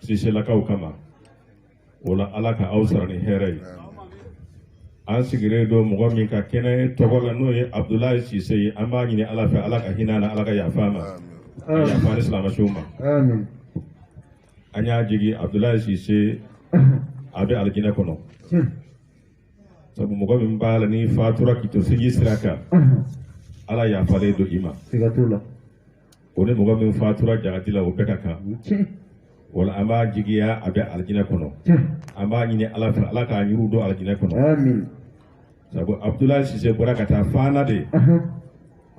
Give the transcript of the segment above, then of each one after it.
siselakaw kama wala ala ka aw sara ni hɛrɛ ye an sigilen don mɔgɔ min ka kɛnɛ tɔgɔ la n'o ye abudulayi sise ye an b'a ɲini ala fɛ ala ka hinɛ a na ala ka yafa a ma yafa silamɛ suw ma an y'a jigi abudulayi sise a bɛ alijinɛ kɔnɔ sabu mɔgɔ min b'a la n'i fatura k'i to sinji sira kan ala yafalen don i ma O ni mɔgɔ min fatura jahadi la o bɛɛ ka kan wala an b'a jigiya a bɛ alijinɛ kɔnɔ an b'a ɲini ala fɛ ala k'a ɲuru don alijinɛ kɔnɔ sabu abudulayi sise bɔra ka taa fana de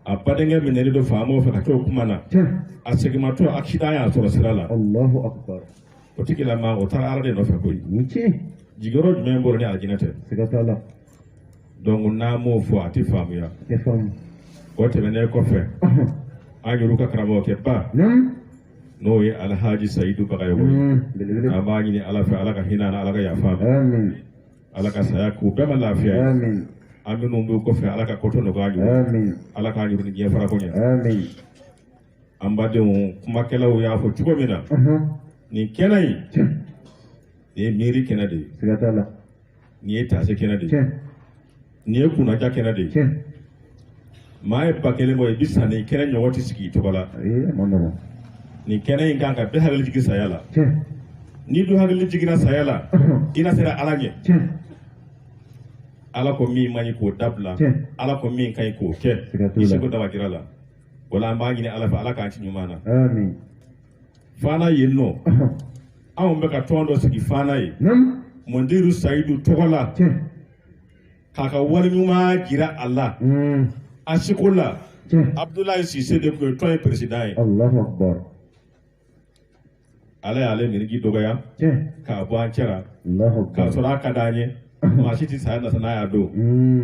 a badenkɛ minɛlen don faama fɛ ka to o kuma na a seginmatɔ akisidan y'a sɔrɔ sira la o tigilamaa o taara ala de nɔfɛ koyi jigiyɔrɔ jumɛn b'o la ni alijinɛ tɛ donc n'a m'o fɔ a tɛ faamuya o tɛmɛnen kɔfɛ an yɛrɛ ka karamɔgɔkɛba n'o ye alhaji sayidu bagayɔgɔ ye mm, an b'a ɲini ala fɛ ala ka hinɛ a na ala ka yafa a ma ala ka saya k'u bɛɛ ma lafiya ye an minnu b'u kɔfɛ ala ka kɔto nɔgɔya ɲuman ala k'an yɛrɛ ni diɲɛ farako ɲɛ an badenw kumakɛlaw y'a fɔ cogo min na nin kɛnɛ in nin ye miiri kɛnɛ de ye nin ye taasi kɛnɛ de ye nin ye kunnaja kɛnɛ de ye maa ye ba kelen bɔ i bi sa nin kɛnɛ ɲɔgɔn tɛ sigi i tɔgɔ la nin kɛnɛ in kan ka bɛɛ hakili jigin saya la n'i dun hakili jiginna saya la i na siran ala ɲɛ ala ko min man ɲi k'o dabila ala ko min ka ɲi k'o kɛ i seko damajira la wala an b'a ɲini ala fɛ ala k'an ci ɲuman na fana yen nɔ anw bɛ ka tɔn dɔ sigi fana yen mɔndiru sayidu tɔgɔ la k'a ka wale ɲuman jira a la hmm. a sigiko la abudulayi sise de tun ye tɔn in peresidan ye ala y'ale niriki dɔgɔya k'a bɔ an cɛra k'a sɔrɔ a ka d'an ye maa si tɛ saya nasa n'a y'a don hmm.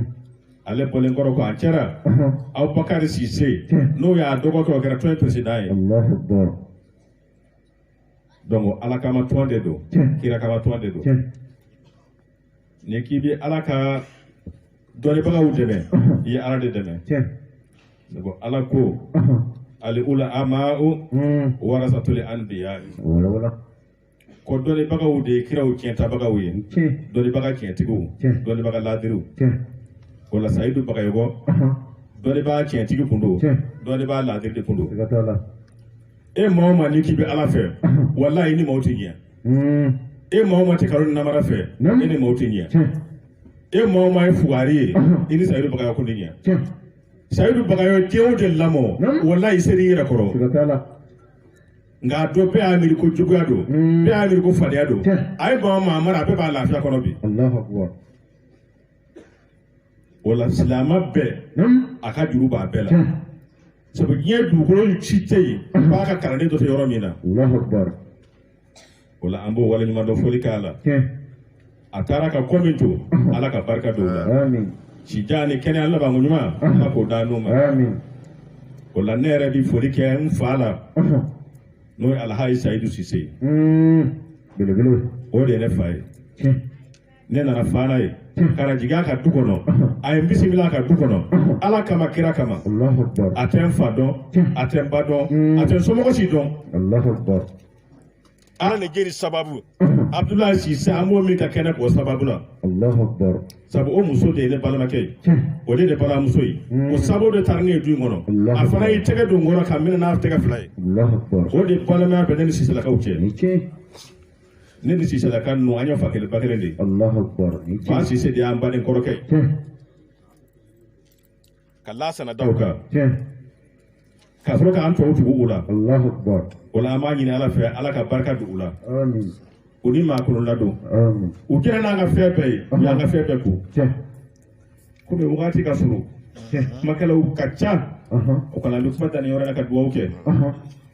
ale bɔlen kɔrɔ kɔ an cɛra abubakari sise n'o y'a dɔgɔkɛ o kɛra tɔn peresidan ye donc ala kama tɔn de don kira kama tɔn de don n'i k'i bɛ ala ka dɔnnibagaw dɛmɛ i ye ala de dɛmɛ sabu ala ko ali ulama'u warasatuli anbiya'i ko dɔnnibagaw de ye kiraw tiɲɛtabagaw ye dɔnnibaga tiɲɛtigiw dɔnnibaga laadiriw wala sayidu bagayɔgɔ dɔnnibaga tiɲɛtigi kun don dɔnnibaga laadiri de kun don e maa o maa n'i k'i bɛ ala fɛ walayi e ni maaw tɛ ɲɛ hmm. e maa o maa tɛ kalon ni namara fɛ e ni maaw tɛ ɲɛ e maa o maa ye fugari ye i ni sayidu bagayɔgɔ kun tɛ ɲɛ sayidu bagayɔgɔ tiɲɛ o de lamɔ walayi seere i yɛrɛ kɔrɔ. nka a don bɛɛ y'a miiri ko juguya don bɛɛ y'a miiri ko fadenya don a ye ba maa mara a bɛɛ b'a lafiya kɔnɔ bi o la silamɛ bɛɛ a ka juru b'a bɛɛ la sabu diɲɛ dugukolo si tɛ yen ba ka kalanden dɔ tɛ yɔrɔ min na o la an b'o waleɲumandɔn foli k'a la a taara ka ko min to ala ka barika don o la sijan ni kɛnɛya labanko ɲuman ala k'o d'anw ma o la ne yɛrɛ bi foli kɛ n fa la n'o ye alhaji sayidu sise belebele ye o de ye ne fa ye ne nana fana yen ka na jigin a ka du kɔnɔ a ye n bisimila a ka du kɔnɔ ala kama kira kama a tɛ n fa dɔn a tɛ n ba dɔn a tɛ n somɔgɔ si dɔn ala ni jeri sababu abudulayi sise an b'o min ka kɛnɛ kan o sababu la sabu o muso de ye ne balimakɛ ye o de ye ne balimamuso ye o sababu de taara ne ye du in kɔnɔ a fana y'i tɛgɛ don n kɔrɔ ka n minɛ n'a tɛgɛ fila ye o de balimaya bɛ ne ni siselakaw cɛ ne ni siselaka ninnu an ye fa kelen ba kelen de ye fa sise de y'an baden kɔrɔkɛ ye ka lasana da o kan ka sɔrɔ k'an tɔw tugu u la o la an b'a ɲini ala fɛ ala ka barika don u la u ni maakɔrɔ ladon u kɛra n'an ka fɛn bɛɛ ye u y'an ka fɛn bɛɛ ko komi wagati ka surun kumakɛlaw ka ca o kama an bɛ kuma dan nin yɔrɔ la ka dugawu kɛ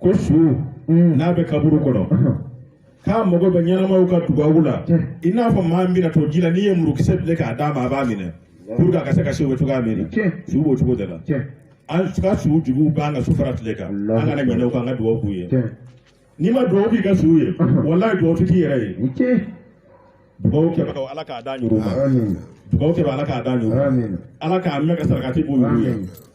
ko su mm. n'a bɛ kaburu kɔnɔ uh-huh. k'a mago bɛ ɲɛnamaw ka dugawu la i n'a fɔ maa min bɛna to ji la n'i ye murukisɛ bilen k'a d'a ma a b'a minɛ pour que a ka se ka se o bɛ cogoya min na su b'o cogo de la an ka suw jigi b'an kan su fara tile kan an kana ɲinɛ u kɔ an ka dugawu k'u ye n'i ma dugawu k'i ka su ye uh-huh. walayi dugawu tɛ k'i yɛrɛ ye dugawu kɛbagaw ala k'a d'a ɲugu ma dugawu kɛbaga ala k'a d'a ɲugu ala k'a mɛn ka sarakati b'u ye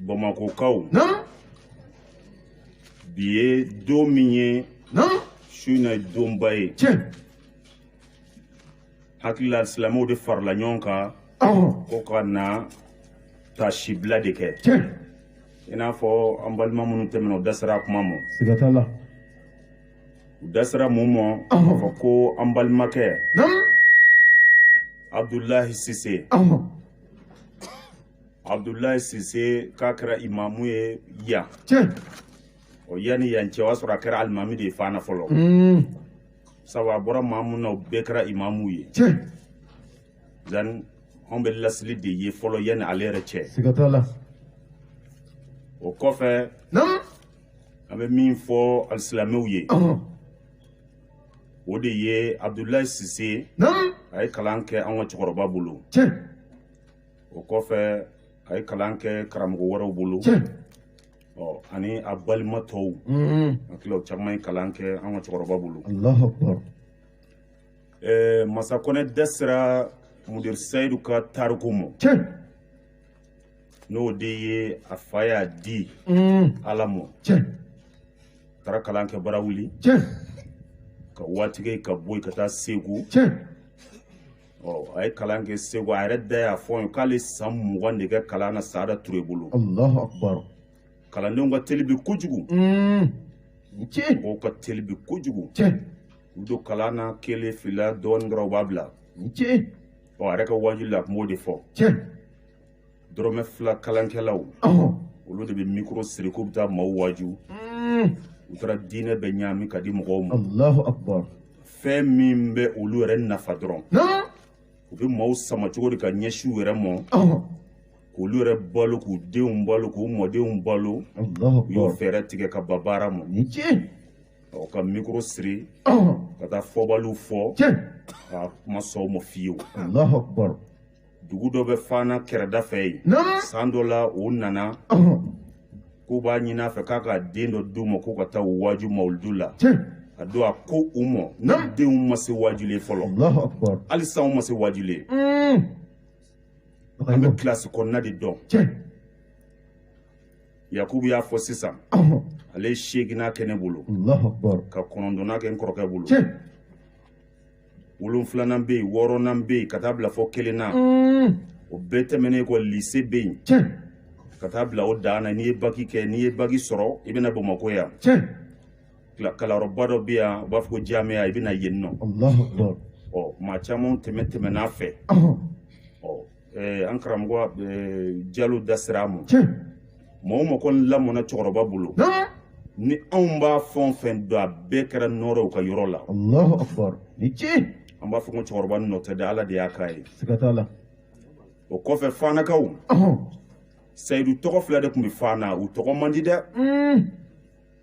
bamakɔkaw bi ye don min ye su in na ye donba ye hakili la silamɛw de farala ɲɔgɔn kan ko ka na tasibila de kɛ i n'a fɔ an balima minnu tɛmɛna u da sera a kuma ma u da sera mun ma k'a fɔ ko an balimakɛ abudulayi sise abudulayi sise k'a kɛra imamu ye yan o yanni yan cɛ o y'a sɔrɔ a kɛra alimami de ye fana fɔlɔ hmm. sabu a bɔra maa mun na o bɛɛ kɛra imamu ye zan anw bɛɛ lasili de ye fɔlɔ yanni ale yɛrɛ cɛ o kɔfɛ an bɛ min fɔ alisilamɛw ye o de ye abudulayi sise a ye kalan kɛ an ka cɛkɔrɔba bolo o kɔfɛ a ye kalan kɛ karamɔgɔ wɛrɛw bolo ɔ ani a balima tɔw hakili la caman ye kalan kɛ an ka cɛkɔrɔba bolo masa kɔnɛ da sera mudiri seyidu ka tariku ma n'o de ye a fa y'a di ala ma taara kalan kɛ barawuli ka waati kɛ ka bɔ yen ka taa segu ɔ a ye kalan kɛ segu a yɛrɛ da y'a fɔ n ye k'ale san mugan de kɛ kalan na saada ture bolo kalandenw ka teli bi kojugu mm. mɔgɔw ka teli bi kojugu u don kalan na kelen fila dɔɔnin dɔrɔn u b'a bila ɔ a yɛrɛ ka waajuli la a tun b'o de fɔ dɔrɔmɛ fila kalankɛlaw olu de bɛ mikoro siri k'u bɛ taa maaw waaju mm. u taara diinɛ bɛɛ ɲaami ka di mɔgɔw ma fɛn min bɛ olu yɛrɛ nafa dɔrɔn u bɛ maaw sama cogo de ka ɲɛsin u yɛrɛ mɔ k'olu yɛrɛ balo k'u denw balo k'u mɔdenw balo u y'o fɛɛrɛ tigɛ ka ban baara ma ɔ ka mikoro siri ka taa fɔbaliw fɔ a tun ma sɔn o ma fiyewu dugu dɔ bɛ fana kɛrɛda fɛ yen san dɔ la u nana k'u b'a ɲini a fɛ k'a ka den dɔ d'u ma k'u ka taa u waaju mawuludu la a don a ko u ma ne denw ma se waajuli ye fɔlɔ hali sa u ma se waajuli ye an bɛ kilasi kɔnɔna de dɔn yakubu y'a fɔ sisan ale ye seeginnan kɛ ne bolo ka kɔnɔntɔnnan kɛ n kɔrɔkɛ bolo wolonfilanan bɛ yen wɔɔrɔnan bɛ yen ka taa bila fɔ kelen na o bɛɛ tɛmɛnen kɔ lise bɛ yen ka taa bila o dan na n'i ye baki kɛ n'i ye baki sɔrɔ i bɛ na bamakɔ yan kalanyɔrɔba dɔ bɛ yan u b'a fɔ ko jaamɛya i bɛ na yen nɔ ɔ maa caman tɛmɛn tɛmɛn'a fɛ ɔ eh, an karamɔgɔ eh, jalo da sera a ma mɔgɔ o mɔgɔ kɔni lamɔna cɛkɔrɔba bolo ni anw b'a fɛn o fɛn don a bɛɛ kɛra nɔɔrɔ ye u ka yɔrɔ la Allahu akbar ni ci an b'a fɔ ko cɛkɔrɔba nɔ tɛ dɛ ala de y'a k'a ye siga t'a la o kɔfɛ fanakaw sayidu tɔgɔ fila de tun bɛ fana u tɔgɔ man di dɛ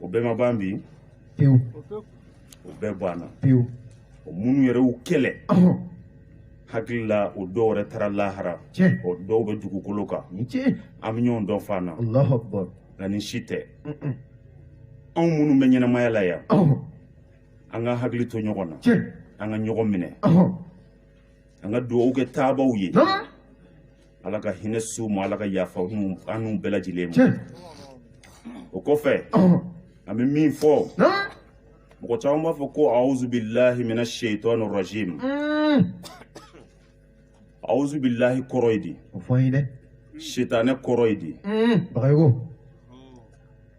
o bɛɛ ma ban bi pewu o bɛɛ banna pewu o minnu yɛrɛ y'u kɛlɛ hakili la o dɔw yɛrɛ taara lahara o dɔw bɛ dugukolo kan an bɛ ɲɔgɔn dɔn fana nka nin si tɛ anw minnu bɛ ɲɛnamaya la yan an ka hakili to ɲɔgɔn na an ka ɲɔgɔn minɛ an ka dugawu kɛ taabaw ye ala ka hinɛ suw ma ala ka yafa an n'u bɛɛ lajɛlen ma o kɔfɛ an bɛ min fɔ mɔgɔ caman b'a fɔ ko awuzubilahi mina seetɔni rajim awuzubilahi kɔrɔ ye di o fɔ an ye dɛ sitanɛ kɔrɔ ye di bagayogo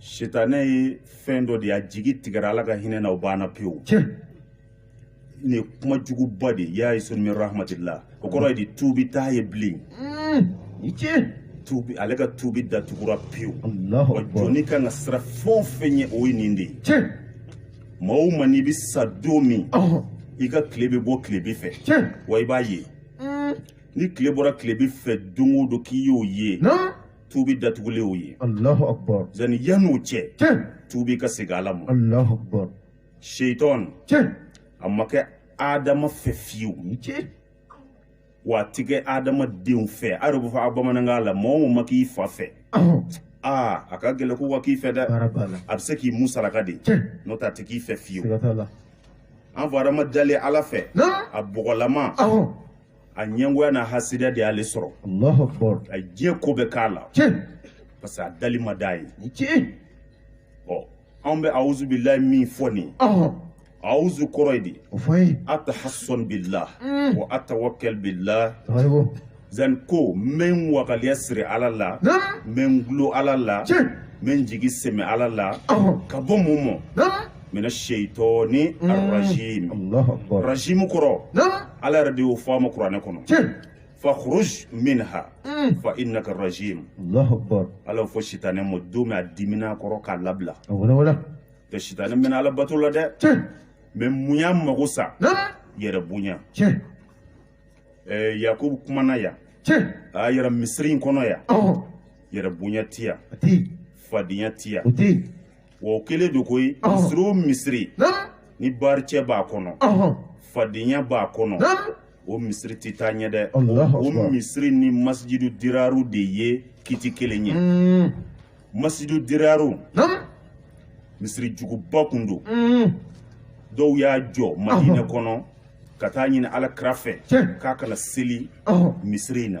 sitanɛ ye fɛn dɔ de ye a jigi tigɛra ala ka hinɛ na o banna pewu nin ye kuma juguba de ye ya'isun min rahmatillah o kɔrɔ ye di tuubi t'a ye bilen tuubi ale ka tuubi da tugura pewu wa jɔni kan ka siran fɛn o fɛn ɲɛ o ye nin de ye maa o maa n'i bɛ sa don min i ka tile bɛ bɔ tilebin fɛ wa i b'a ye ni tile bɔra tilebin fɛ don o don k'i y'o ye tuubi da tugulen y'o ye alahu akbar zani yan n'o cɛ tiɲɛ tuubi ka segin ala ma alahu akbar shaitan tiɲɛ a ma kɛ adama fɛ fiyewu tiɲɛ wa a ti kɛ adamadenw fɛ a yɛrɛ bɛ fɔ a bamanankan la mɔgɔ o ma k'i fa fɛ ɔhɔn aa a ka gɛlɛn k'o ka k'i fɛ dɛ baara b'a la a bɛ se k'i musalaka de tiɲɛ n'o tɛ a tɛ k'i fɛ fiyewu siga t'a la an fɔ adama dalen ala fɛ na a bɔgɔlama ɔhɔn a ɲɛngoya n'a hasidiya de y'ale sɔrɔ Allahu Akbar a de ye ko bɛɛ k'a la tiɲɛ parce que a dali ma diy'a ye ni tiɲɛ ɔ anw bɛ awuzu bilahi min fɔ nin ɔhɔn awuzu kɔrɔ ye di o fɔ an ye atahassan billah wa atawakkal billah tabariko zan ko n bɛ n wakaliya siri ala la naam n bɛ n gulon ala la tiɲɛ n bɛ n jigi sɛmɛ ala la ɔhɔn ka bɔ mun mɔ naam mɛ setɔ ni ararasirasimu kɔrɔ ala yɛrɛ de y'o fɔ a ma kuranɛ kɔnɔ fa min ha fa i na karɔrɔsi ala fɔ sita ne ma don min a dimina kɔrɔ k'a labila ka sita ne mɛna alabato la dɛ mɛ munya mago sa yɛrɛ bonya yakubu kumana yan a yɛrɛ misiri in kɔnɔ yan yɛrɛ bonya tiya fadenya tiya wa o kɛlen don koyi misiri o misiri ni baaricɛ b'a kɔnɔ fadenya b'a kɔnɔ o misiri tɛ taa ɲɛ dɛ o misiri ni masijidu diraru de ye kiti kelen ye hmm. masijidu diraru misiri juguba kun don hmm. dɔw y'a jɔ madinɛ kɔnɔ ka t'a ɲini ala kira fɛ k'a ka na seli misiri in na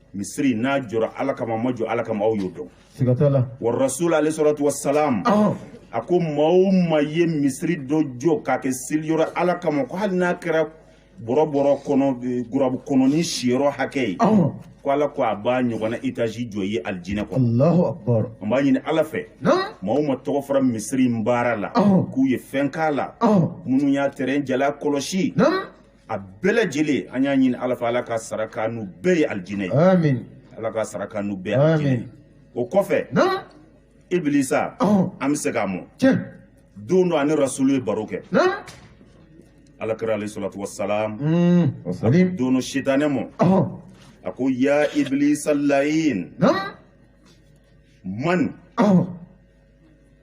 misiri n'a jɔra ala kama a ma jɔ ala kama aw y'o dɔn siga t'a la wa rasul alayhi salatu wasalam a ko maa o maa ye misiri dɔ jɔ k'a kɛ seliyɔrɔ ala kama ko hali n'a kɛra bɔrɔbɔrɔ kɔnɔ e, gurabu kɔnɔnin siyɔrɔ hakɛ ye ko ala ko a b'a ɲɔgɔnna etazi jɔ o ye alijinɛ kɔnɔ alahu akbar an b'a ɲini ala fɛ maa o maa tɔgɔ fɔra misiri in baara la k'u ye fɛn k'a la minnu y'a terrain jalan kɔlɔsi a bɛɛ lajɛlen an y'a ɲini ala fɛ ala k'a sara k'an n'u bɛɛ ye alijinɛ ye amin ala k'a sara k'an n'u bɛɛ ye alijinɛ ye o kɔfɛ naam ibilisa an bɛ se k'a mɔ tiɲɛ don dɔ a ni rasulu ye baro kɛ naam ala kira alayhi salatu wasalam mm. don dɔ sitanɛ mɔ a ko ya ibilisa layin naam man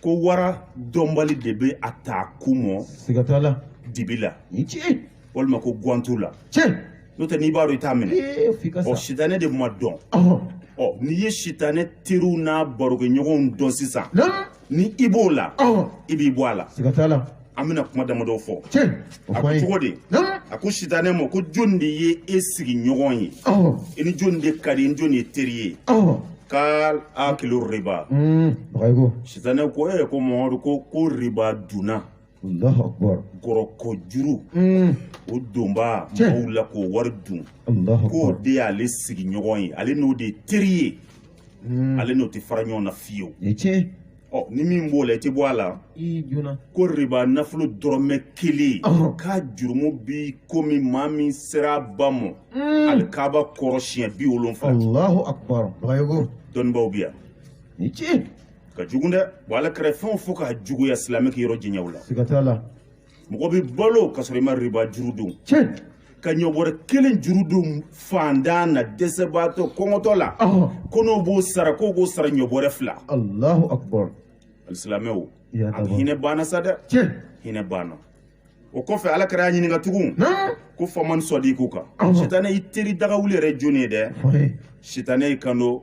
ko wara dɔnbali de bɛ a ta ku mɔ siga t'a la dibi la tiɲɛ walima ko guwantu la tiɲɛ n'o tɛ n'i b'a dɔn i t'a minɛ ɔ sitanɛ de ma dɔn ɔ n'i ye sitanɛ teriw n'a barokɛɲɔgɔnw dɔn sisan ni i b'o la i b'i bɔ a la siga t'a la an bɛna kuma damadɔ fɔ a ko cogo di a ko sitanɛ ma ko jɔni de ye e sigiɲɔgɔn ye i ni jɔni de ka di i ni jɔni ye teri ye kala akilu riba mm, sitanɛ ko e ko mamadu ko ko riba dunna gɔrɔkɔ juru mm. o donba mɔgɔw la k'o wari dun k'o de y'ale sigiɲɔgɔn ye ale n'o de ye teri ye mm. ale n'o tɛ fara ɲɔgɔn na fiyewu ɔ ni min b'o la i tɛ bɔ a la ko riba nafolo dɔrɔmɛ kelen k'a jurumu bi komi maa min sera a ba mɔ hmm. alikaba kɔrɔ siɲɛ biwolonfila dɔnnibaaw bi yan ka jugu dɛ wa ala kira fɛn o fɔ k'a juguya silamɛ k'i yɔrɔ janya o la mɔgɔ bɛ balo ka sɔrɔ i ma riba juru don ka ɲɔ bɔrɛ kelen juru don faantan na dɛsɛbaatɔ kɔngɔtɔ la ko n'o b'o sara k'o b'o sara ɲɔ bɔrɛ fila alahu akubar alisilamɛw a hinɛ banna sa dɛ hinɛ banna o kɔfɛ ala kira y'a ɲininka tugun ko faman sɔdikuka sitanɛ i teri dagawuli yɛrɛ jɔni ye dɛ sitanɛ y'i kanto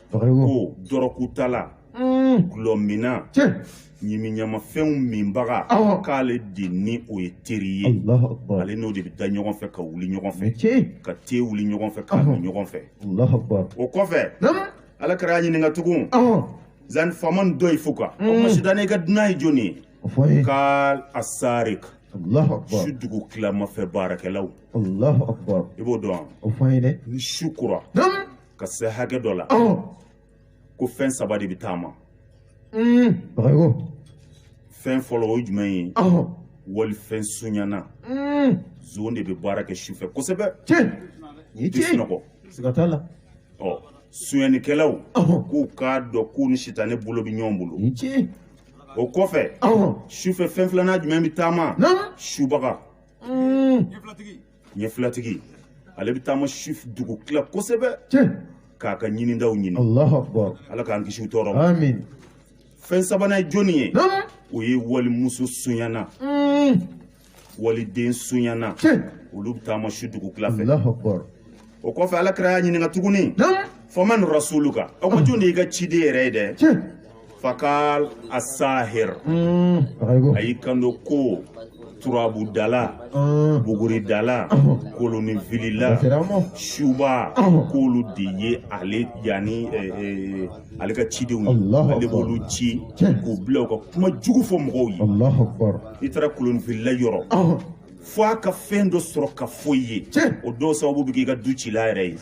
ko dɔrɔgutala dulɔminna ɲimiɲamafɛnw minbaga k'ale de ni o ye teri ye ale n'o de bɛ da ɲɔgɔn fɛ ka wuli ɲɔgɔn fɛ ka te wuli ɲɔgɔn fɛ k'a min ɲɔgɔn fɛ o kɔfɛ ala kira y'a ɲininka tugun zan faman dɔyifuka o ma sitanɛ i ka dunan ye jɔni ye kala asariku su dugutilama fɛ baarakɛlaw i b'o dɔn ni su kora ka se hakɛ dɔ la ko fɛn saba de bɛ taama fɛn fɔlɔ o ye jumɛn ye walifɛn sunyana zon de bɛ baara kɛ sufɛ kosɛbɛ u tɛ sunɔgɔ siga t'a la ɔ sunyanikɛlaw k'u k'a dɔn k'u ni sitanɛ bolo bɛ ɲɔgɔn bolo o kɔfɛ sufɛ fɛn filanan jumɛn bɛ taama subaga ɲɛfilatigi ale bɛ taama su dugu tila kosɛbɛ k'a ka ɲinintaw ɲini ala k'an kisi tɔɔrɔ ma fɛn sabanan ye jɔnni ye o ye walimuso sonyana mm. waliden sonyana olu bɛ taama su dugu tila fɛ o kɔfɛ ala kira y'a ɲininka tuguni faman rasuluka o ma jɔn de y'i ka ciden yɛrɛ ye dɛ fakal asahir a y'i kanto ko turabudala buguridala kolonifilila suba k'olu de ye ale yanni ale ka cidenw ye ale b'olu ci k'u bila u ka kuma jugu fɔ mɔgɔw ye i taara kolonifilila yɔrɔ fo a ka fɛn dɔ sɔrɔ k'a fɔ i ye o dɔw sababu bɛ k'i ka du cila yɛrɛ ye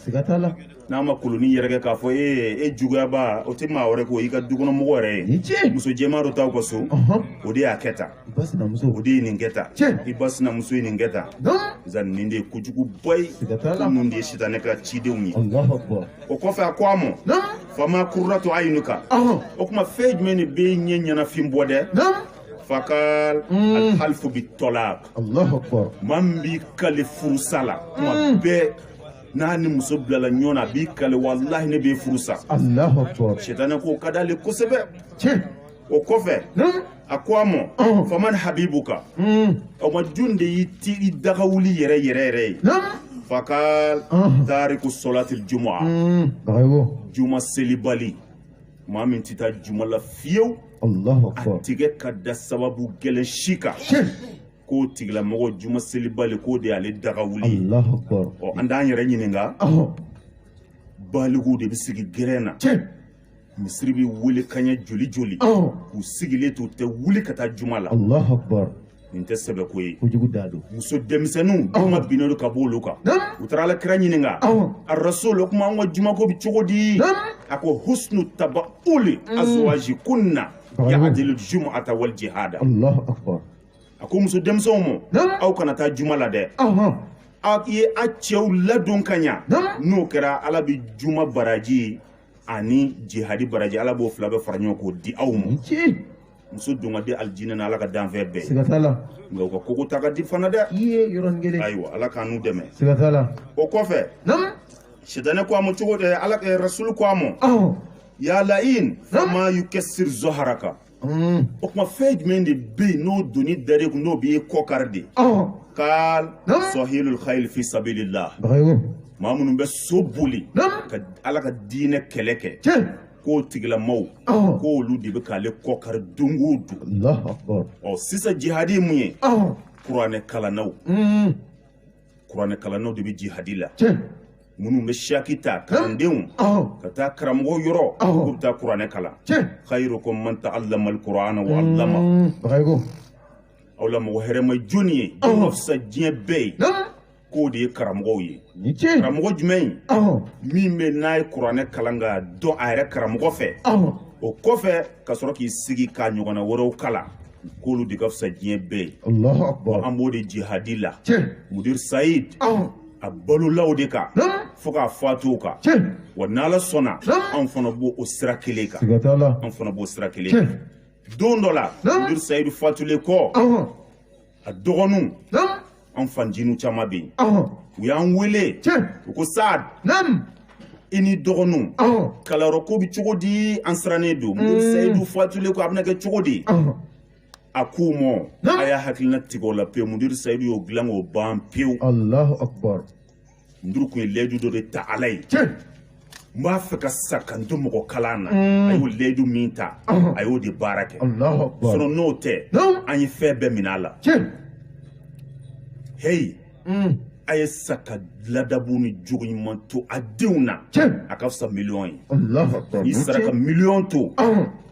n'a ma koloni yɛrɛkɛ k'a fɔ e e juguyaba o tɛ maa wɛrɛ ko i ka dukɔnɔmɔgɔ yɛrɛ ye muso jɛman dɔ t'aw ka so o de y'a kɛ tan o de ye nin kɛ tan i ba sinamuso ye nin kɛ tan zan nin de ye kojuguba ye ninnu de ye sitanɛ ka cidenw ye o kɔfɛ a ko a ma fama kuratu ayinuka o kuma fɛn jumɛn de b'e ɲɛ ɲɛnafin bɔ dɛ fakal mm. alhalifu bi tɔlak maa min b'i kale furusa la tuma mm. bɛɛ n'a ni muso bilala ɲɔgɔn na a b'i kale walahi ne b'i furusa sitanɛ k'o ka d'ale kosɛbɛ o kɔfɛ hmm? a ko a ma oh. faman habibuka hmm. o ma jɔn de y'i teri dagawuli yɛrɛ yɛrɛ yɛrɛ ye fakal oh. tariku solatil juma hmm. juma selibali maa min tɛ taa juma la fiyewu a tɛ kɛ ka da sababu gɛlɛn si kan k'o tigilamɔgɔ juma selibali k'o de y'ale dagawuli ye ɔ an t'an yɛrɛ ɲininka balikuw de bɛ sigi gɛrɛn na misiri bɛ wele kaɲɛ joli joli k'u sigilen to u tɛ wuli ka taa juma la nin tɛ sɛbɛko ye kojugu da don muso denmisɛnninw juma binnen don ka bɔ olu kan u taara ala kira ɲininka a rasul o kuma an ka jumako bɛ cogo di a ko husnu tabauli mm. azwaji kunna yahadilu jumuata wal jihada allahu akbar a ko muso denmisɛnw ma aw kana taa juma la dɛ a ye a cɛw ladon ka ɲa n'o kɛra ala bɛ juma baraji ani jihadi baraji ala b'o fila bɛɛ fara ɲɔgɔn k'o di aw ma muso don ka di alijinɛ na ala ka danfɛn bɛɛ siga t'a la nka u ka koko ta ka di fana dɛ i ye yɔrɔnin kelen ayiwa ala k'an n'u dɛmɛ siga t'a la o kɔfɛ naamu sitanɛ ko a ma cogo di ala rasulu ko a ma ya lain fama yukɛsiri zɔharaka Mm. o kuma fɛn jumɛn de bɛ yen n'o doni dar'e kun n'o b'i kɔ kari dɛ kal sɔhilul khayil fi sabilillah maa minnu bɛ so boli ka ala ka diinɛ kɛlɛ kɛ k'o tigilamɔgɔw k'olu de bɛ k'ale kɔ kari don o don ɔ sisan jihadi ye mun ye kuranɛ kalannaw mm. kuranɛkalannaw de bɛ jihadi la minnu bɛ saki ta kalandenw ka taa karamɔgɔ yɔrɔ k'u bɛ taa kuranɛ kalan khayirukum man taalamal kurana wa alama mm, aw la mɔgɔ hɛrɛma jɔni ye o ka fisa diɲɛ bɛɛ ye k'o de ye karamɔgɔw ye karamɔgɔ jumɛn in min bɛ n'a ye kuranɛ kalan ka dɔn a yɛrɛ karamɔgɔ fɛ o kɔfɛ ka sɔrɔ k'i sigi ka ɲɔgɔnna wɛrɛw kalan k'olu de ka fisa diɲɛ bɛɛ ye an b'o de jihadi la mudir sayid a balola o de kan fo k'a fatu o kan wa n'ala sɔnna anw fana b'o sira kelen kan anw fana b'o sira kelen kan don dɔ la mudir sayidu fatulen kɔ a dɔgɔninw an fancininw caman bɛ yen u y'an wele u ko sad i n'i dɔgɔninw kalanyɔrɔ ko bɛ cogo di an sirannen don mudiri seyidu fatulen kɔ a bɛna kɛ cogo di a k'u ma a y'a hakilina tigɛ o la pewu mudiri seyidu y'o dilan k'o ban pewu mudiri kun ye layidu dɔ de ta ala ye n b'a fɛ ka sa ka n to mɔgɔ kalan na mm. a y'o layidu min ta a y'o de baara kɛ sinɔ n'o tɛ an ye fɛn bɛɛ minɛ a la heyi mm. a ye sa ka ladabu ni jogo ɲuman to a denw na a ka fisa miliyɔn ye n'i sara ka miliyɔn to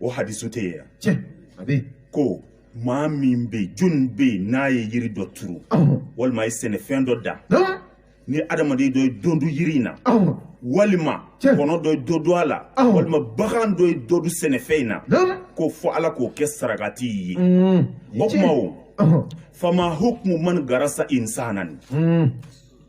o hadisu tɛ yen yan a bɛ ko maa min bɛ yen jɔni bɛ yen n'a ye yiri dɔ turu walima a ye sɛnɛfɛn dɔ dan ni adamaden dɔ ye dɔ dun yiri in na walima kɔnɔ dɔ ye dɔ dun a la walima bagan dɔ ye dɔ dun sɛnɛfɛn in na ko fo ala k'o kɛ sarakati ye o kuma o fama hukumu man garasa insanan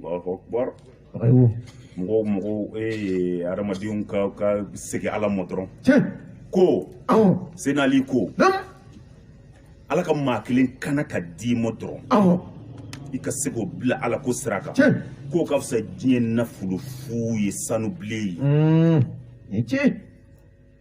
mɔgɔ o mɔgɔ ye adamadenw ka ka segin ala ma dɔrɔn ko senali ko ala ka maa kelen kana ka d'i ma dɔrɔn i ka se k'o bila ala ko sira kan k'o ka fisa diɲɛ nafolo fu ye sanu bilen ye mm.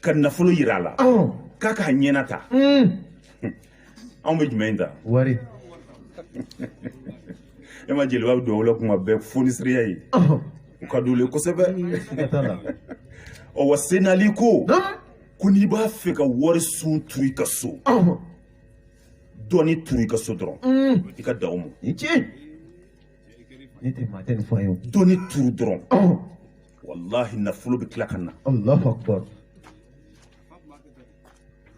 ka nafolo yira a la k'a k'a ɲɛnata anw bɛ jumɛn in ta wari e ma jeliba bɛ dugawu la kuma bɛɛ fonisiriya ye o ka d'u ye kosɛbɛ ɔ wa senali ko ko n'i b'a fɛ ka wari sun turu i ka so dɔnni turu i ka so dɔrɔn i ka dan o ma dɔnni turu dɔrɔn wallahi nafolo bɛ tila ka na allahu akbar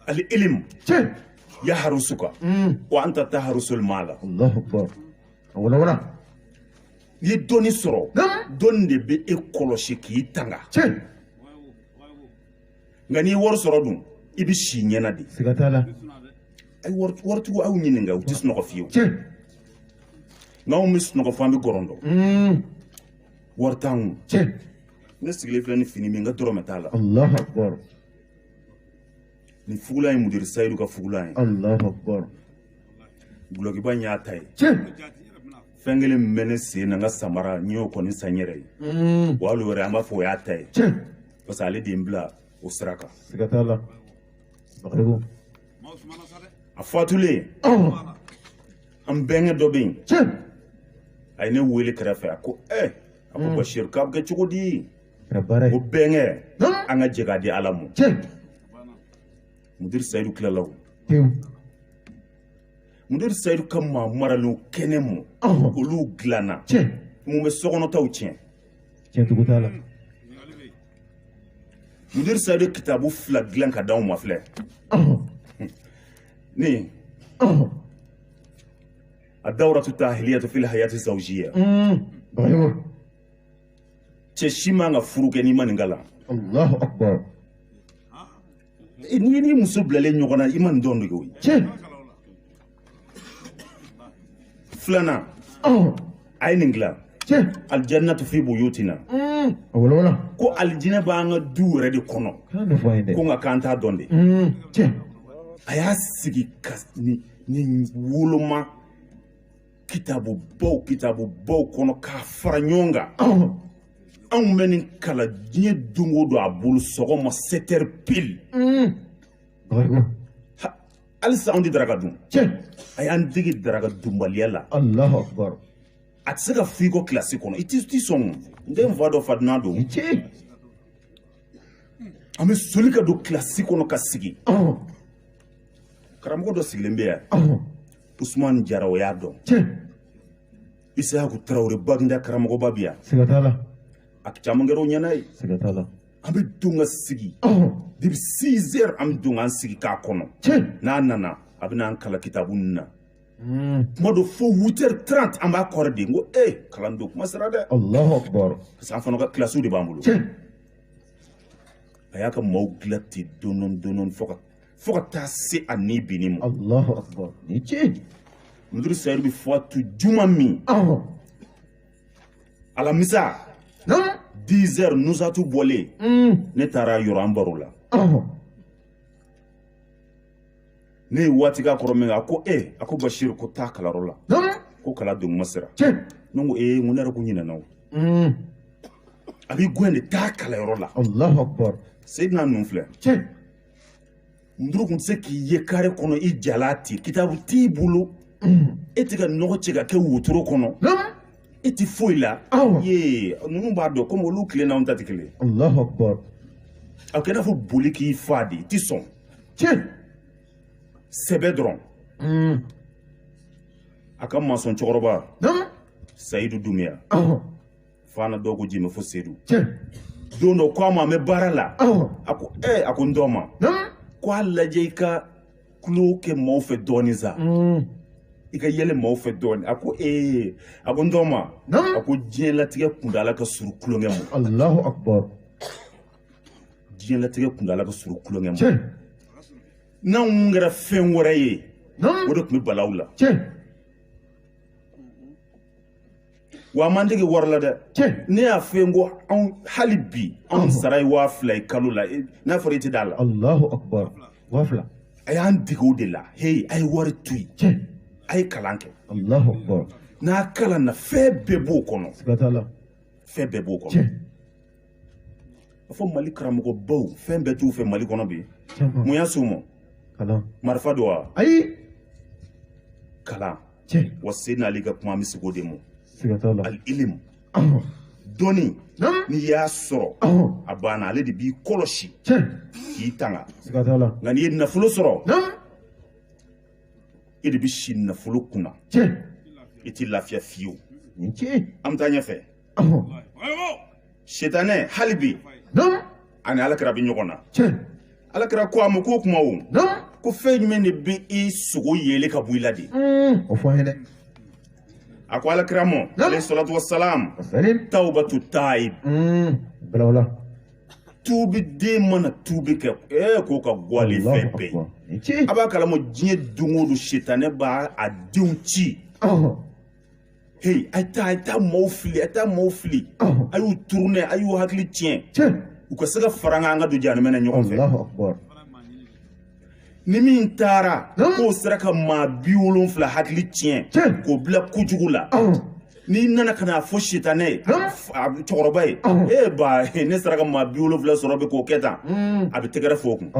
al ilim tiɲɛ yaharusuka wa anta taharusul maala allahu akbar a walawala n'i ye dɔnni sɔrɔ Naamu. dɔnni de bɛ e kɔlɔsi k'i tanga tiɲɛ nka n'i ye wari sɔrɔ dun i bɛ si ɲɛna de siga t'a la a ye wari waritigiw aw ɲininka u tɛ sunɔgɔ fiyewu tiɲɛ nka anw bɛ sunɔgɔ fɔ an bɛ gɔrɔndɔ Mm. wari t'an kun tiɲɛ ne sigilen filɛ ni fini min n ka dɔrɔmɛ t'a la alahu akubar nin fugulan ye mudiri sayidu ka fugulan ye alahu akubar gulɔkiba in y'a ta ye tiɲɛ fɛn kelen min bɛ ne sen na n ka samara n y'o kɔni san n yɛrɛ ye mm. wa hali o yɛrɛ an b'a fɔ o y'a ta ye tiɲɛ parce que ale de ye n bila o sira kan siga t'a la a fatulen an bɛnkɛ dɔ bɛ yen a ye ne wele kɛrɛfɛ a ko ɛ a ko basiru k'a bɛ kɛ cogo di ko bɛnkɛ an ka jɛ k'a di ala ma mudiri sayidu tilala o mudiri sayidu ka maa maralenw kɛnɛma olu dilanna mun bɛ sokɔnɔtaw tiɲɛ cɛntugu t'a la mudiri sayidu ye kitabu fila dilan ka d'anw ma filɛ nin ad dawratu tahiliyatu fil hayati zawjiya cɛ si man ka furu kɛ n'i ma nin kalan allahu akbar n'i n'i muso bilalen ɲɔgɔn na i ma nin dɔn de koyi filanan a ye nin dilan alijannatu fi buyutina ko alijinɛ b'an ka du yɛrɛ de kɔnɔ ko nka k'an t'a dɔn de a y'a sigi ka nin woloma kitabubaw kitabubaw kɔnɔ k'a fara ɲɔgɔn kan anw bɛ nin kalan diɲɛ don o don a bolo sɔgɔma 7 heures pile hali sisan anw tɛ daraka dun a y'an dege daraka dunbaliya la a tɛ se ka f'i kɔ kilasi kɔnɔ i t'i sɔn n tɛ n fa dɔn fa dunan don an bɛ soli ka don kilasi kɔnɔ ka sigi karamɔgɔ dɔ sigilen bɛ yan usumani jara o y'a dɔn isayaku tarawele baginda karamɔgɔba bɛ yan a caman kɛra o ɲɛna ye an bɛ don ka sigi depuis six heures an bɛ don k'an sigi k'a kɔnɔ n'a nana a bɛ n'an kalan kitabu ninnu na hmm. kuma dɔ fo huit heures trente an b'a kɔrɔ de n ko ee kalan don kuma sera dɛ alahu akibaru parce que an fana ka kilasiw de b'an bolo a y'a ka maaw dilan ten dɔɔni dɔɔni fo ka fo ka taa se a ni binni ma alahu akibaru ni tiɲɛ mudiri sayidu bɛ fatu juma min alamisa dix heures nusatu bɔlen mm. ne taara yɔrɔ an baro la ne ye waati k'a kɔrɔ min a ko e a ko basiru ko taa kalanyɔrɔ la ko kalan tuma sera ne ko ee n ko ne yɛrɛ tun ɲinɛna o mm. a b'i gɛn de taa kalanyɔrɔ la seydina ninnu filɛ nduru tun tɛ se k'i ye kare kɔnɔ i jalan ten kitabu t'i bolo e tɛ ka nɔgɔ cɛ ka kɛ wotoro kɔnɔ i tɛ foyi la ye ninnu b'a dɔn komi olu tile n'anw ta tɛ kelen alahu akubar a kɛ i n'a fɔ boli k'i fa de i tɛ sɔn sɛbɛ dɔrɔn mm. a ka masɔn cɛkɔrɔba sayidu dumiya fana dɔw ko jimɛ fo sedu don dɔ ko a ma an bɛ baara la a ko ee a ko n tɔgɔma ko a lajɛ i ka tulon kɛ maaw fɛ dɔɔnin sa mm. i ka yɛlɛ maaw fɛ dɔɔnin a ko ee a ko n tɔgɔma a ko diɲɛlatigɛ kuntaala ka surun tulonkɛ ma alahu akubar diɲɛlatigɛ kuntaala ka surun tulonkɛ ma n'anw kɛra fɛn wɛrɛ ye o de tun bɛ bala aw la wa a m'an dege wari la dɛ ne y'a fɔ i ye ko anw hali bi anw sara ye waa fila ye kalo la n'a fɔra i tɛ d'a la alahu akubar waa fila a y'an dege o de la heyi a ye wari to yen a ye kalan kɛ alahu akubar n'a kalanna fɛn bɛɛ b'o kɔnɔ siga t'a la fɛn bɛɛ b'o kɔnɔ a fɔ mali karamɔgɔbaw fɛn bɛɛ t'u fɛ mali kɔnɔ bi mun y'a s'u ma marifa don wa ayi kalan wa seydina ali ka kuma an bɛ segin o de ma alilimu dɔnni n'i y'a sɔrɔ a banna ale de b'i kɔlɔsi k'i tanga nka n'i ye nafolo sɔrɔ e de bɛ si nafolo kunna i tɛ lafiya fiyewu an bɛ taa ɲɛfɛ sitanɛ hali bi ani alakira bɛ ɲɔgɔn na alakira ko a ma k'o kuma o ko fɛn jumɛn de bɛ i sogo yeele ka bɔ i la de o fɔ an ye dɛ a ko alakira ma aleyi salatu wa salam tawbatu taib tuubiden mana tuubi kɛ ee k'o ka go ale fɛn bɛɛ ye a b'a kalama diɲɛ don o don sitanɛ b'a denw ci Hey, a ye taa a ye taa maaw fili a ye taa maaw fili a y'u tourner a y'u hakili tiɲɛ u ka se ka fara an kan an ka don jahanama na ɲɔgɔn fɛ ni min taara k'o sera ka maa bi wolonfila hakili tiɲɛ k'o bila kojugu la n'i nana ka n'a fɔ sitanɛ ye cɛkɔrɔba ye ee ba ne sera ka maa bi wolonfila sɔrɔ bi k'o kɛ tan a bɛ tɛgɛrɛ fɔ o kun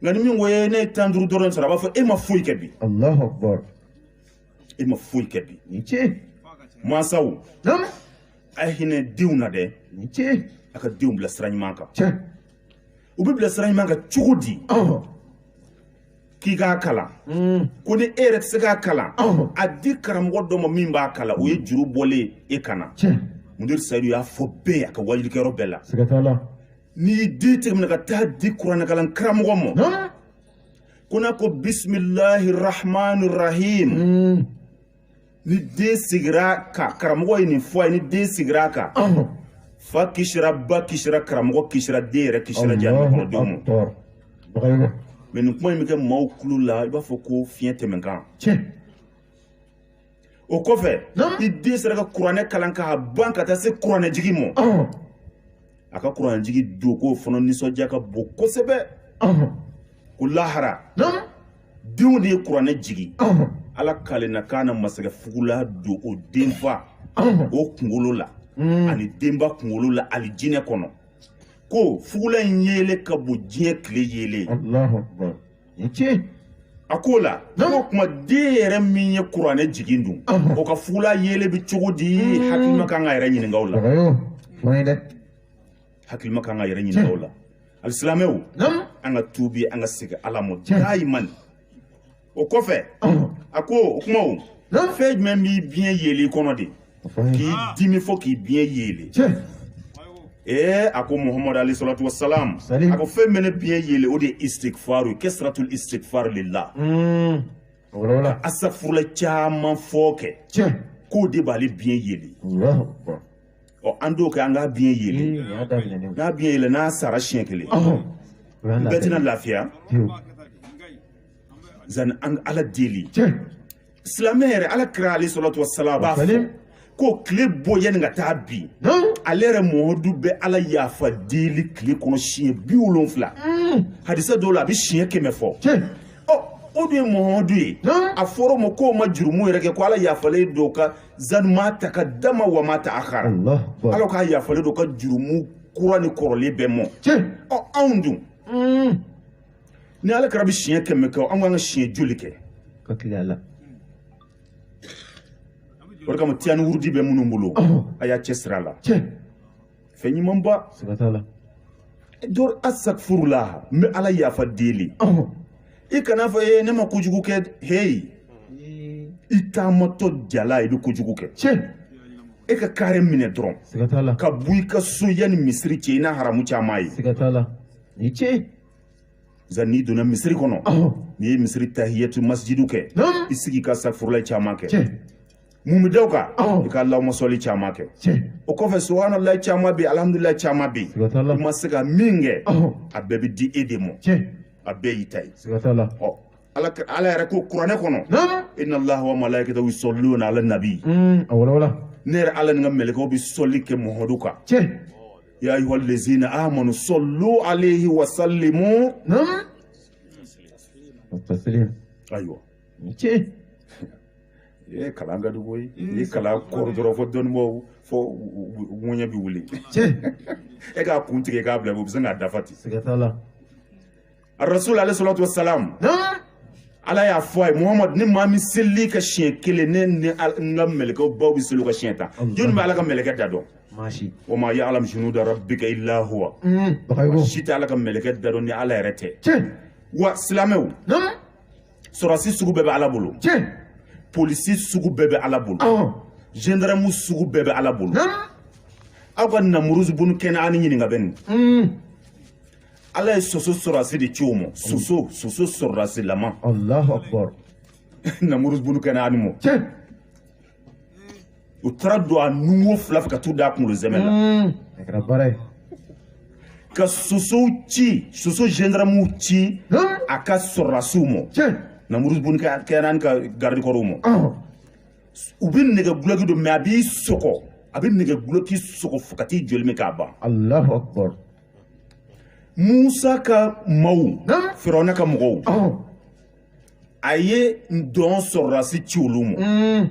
nka ni min ko ne ye tan duuru dɔrɔn sɔrɔ a b'a fɔ e ma foyi kɛ bi e ma foyi kɛ bi ni ce mansaw a ye hinɛ denw na dɛ ni ce a ka denw bila sira ɲuman kan cɛ u bɛ bila sira ɲuman kan cogo di k'i k'a kalan mm. ko ni e yɛrɛ tɛ se k'a kalan a di karamɔgɔ dɔ ma min b'a kalan o ye juru bɔlen e kan na mudiri sayidu y'a fɔ bɛɛ ye a ka wajilikɛyɔrɔ bɛɛ la n'i y'i den tigɛ minɛ ka taa di kuranɛkalan karamɔgɔ ma ko n'a ko bisimilahi rahmani rahim mm. ni den sigira kan karamɔgɔ ye nin fɔ a ye ni den sigira kan fa kisira ba kisira karamɔgɔ kisira den yɛrɛ kisira jahannama kɔnɔ denw ma mɛ nin kuma in bɛ kɛ maaw tulo la i b'a fɔ ko fiɲɛ tɛmɛnkan o kɔfɛ i den sera ka kuranɛ kalan k'a ban ka taa se kuranɛjigi ma a ka kuranɛjigi don k'o fana nisɔndiya ka bon kosɛbɛ ko lahara denw de ye kuranɛ jigi ala k'ale na k'a na masakɛ fugula don o denfa o kunkolo la hmm. ani denba kunkolo la alijinɛ kɔnɔ ko fugula in yeele ka bon diɲɛ tile yeele tiɲɛ a k'o la ko kuma den yɛrɛ min ye kuranɛ jigin dun o ka fugula yeele bɛ cogo di mm. hakilima kan k'a yɛrɛ ɲininka o la hakilima kan k'a yɛrɛ ɲininka o la alisilamɛw an ka tuubi an ka segin ala ma dayiman o kɔfɛ a ko o kuma o fɛn jumɛn b'i biɲɛ yeele i kɔnɔ de k'i dimi fɔ k'i biɲɛ yeele ee a ko muhamadu alayhi salatu wa salam a ko fɛn bɛ ne biɲɛ yeele o de ye istigfaru ye kasratul istigfaru lillah hmm. ka asafurula caman fɔ kɛ k'o de b'ale biɲɛ yeele ɔ an t'o kɛ an k'a biɲɛ yeele hmm, n'a biɲɛ yeele n'a sara siɲɛ kelen bɛɛ tɛna lafiya zani an ala deli silamɛ yɛrɛ ala kira alayhi salatu wa salam b'a fɔ ko tile bɔ yanni ka taa bi ale yɛrɛ mɔmadu bɛ ala yafa deli tile kɔnɔ siɲɛ biwolonfila hadisa dɔw la a bɛ siɲɛ kɛmɛ fɔ ɔ o dun ye mɔmadu ye a fɔra o ma k'o ma jurumu yɛrɛ kɛ ko ala yafalen don ka zanu ma takadama wa ma taakara ala k'a yafalen don ka jurumu kura ni kɔrɔlen bɛɛ mɔ ɔ anw dun ni ala kira bɛ siɲɛ kɛmɛ kɛ an kan ka siɲɛ joli kɛ ka tile a la o de kama tiyani wurudi bɛ minnu bolo a y'a cɛsiri a la cɛ fɛn ɲumanba siga t'a la dɔr asakfurula n bɛ ala yafa deli i kana fɔ ee ne ma kojugu kɛ heyi i taamatɔ jala i bɛ kojugu kɛ cɛ e ka kare minɛ dɔrɔn siga t'a la ka bɔ i ka so yanni misiri cɛ i na haramu caman ye siga t'a la ni cɛ n'i donna misiri kɔnɔ n'i ye misiri tahiyatu masijidu kɛ i sigi ka safurulayi caman kɛ mun bɛ da o kan i ka alahuma sɔli caman kɛ o kɔfɛ subuhanalayi caman bɛ yen alihamudulilayi caman bɛ yen i ma se ka min kɛ a bɛɛ bɛ di e de ma a bɛɛ y'i ta ye ɔ ala ala yɛrɛ ko kuranɛ kɔnɔ inna allaha wa malaikatahu yusalluna ala nabi a wala wala ne yɛrɛ ala ni n ka mɛlɛkɛw bɛ sɔli kɛ muhamadu kan ya ayyuhal lazina amanu sallu alaihi wa sallimu nan taslim ayiwa ce ye kalan ka dugu ye ni kalan kɔrɔ dɔrɔn fo dɔnnibaw fo ŋɔɲɛ bi wuli ce e k'a kun tigɛ k'a bila u bɛ se k'a dafa ten siga t'a la a rasul alaihi salatu wasalam ala y'a fɔ a ye muhamadu ni maa min selil'i kan siɲɛ kelen ne ni n ka mɛlɛkɛ baw bɛ seli a kan siɲɛ tan jɔnni bɛ ala ka mɛlɛkɛ da dɔn wa ma ya'lamu junuda rabbika illa huwa si tɛ ala ka mɛlɛkɛ da dɔn ni ala yɛrɛ tɛ wa silamɛw sɔrɔsi sugu bɛɛ bɛ ala bolo polisi sugu bɛɛ bɛ ala bolo gendarme sugu bɛɛ bɛ ala bolo aw ka namuruzu bunu kɛnɛani ɲininka bɛ nin ala ye soso sɔrɔdasi de ci o ma soso soso sɔrɔdasilama alahu akbar namuruzu bunu kɛnɛani ma tiɲɛ u taara don a nunwo fila fɛ ka t'u da a kunkolo sɛmɛ la hmm. a kɛra baara ye ka sosow ci soso gendarmew ci a ka sɔrɔdasiw ma tiɲɛ namuruzu bunu kɛnɛani ka garidikɔrɔw ma u bɛ nɛgɛ gulɔki don mɛ a b'i sɔgɔ a bɛ nɛgɛ gulɔki sɔgɔ fo ka t'i joli min k'a ban alahu akbar musa ka maw firawuna ka mɔgɔw a ye ntɔn sɔrɔdasi ci olu ma mm.